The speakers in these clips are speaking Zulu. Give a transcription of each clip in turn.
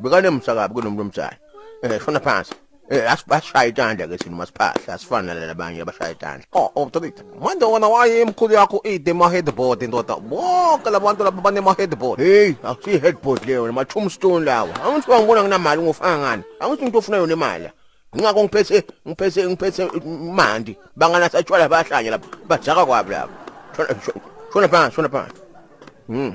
bekanemusa kabi kunomnumzane eh shona phansi eh asibashaya itanda ke thina masiphahla asifana nalabo abanye abashaya itanda oh oh tobita manje wona waye imkhulu yakho ide ma headboard indoda bonke labantu laba bane ma headboard hey akusi headboard leyo ma tombstone lawo angithi wangibona nginamali ngofana ngani angithi umuntu ofuna yona imali ngingakho ngiphethe ngiphethe ngiphethe imandi bangana satshwala bahlanye lapha bajaka kwabi lapha shona shona phansi shona phansi mhm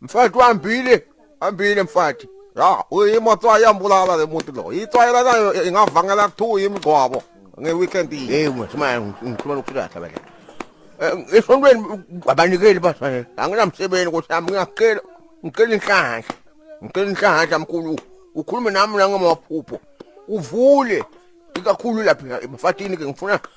Mfati wambile, ambile mfati. Ya, uyimoto yambulala le muntu lo. Itswayela nayo ingavangela kuthiwa imgcwabo ngeweekend yini. Hey mfethu manje ngikhuluma lokuthula kahle bake. Esontweni abanikeli bafanele. Anginamsebenzi ukuthi yami ngiyacela ngicela inhlanhla. Ngicela inhlanhla mkhulu. Ukhulume nami la ngamaphupho. Uvule ikakhulu lapha emfatini ke ngifuna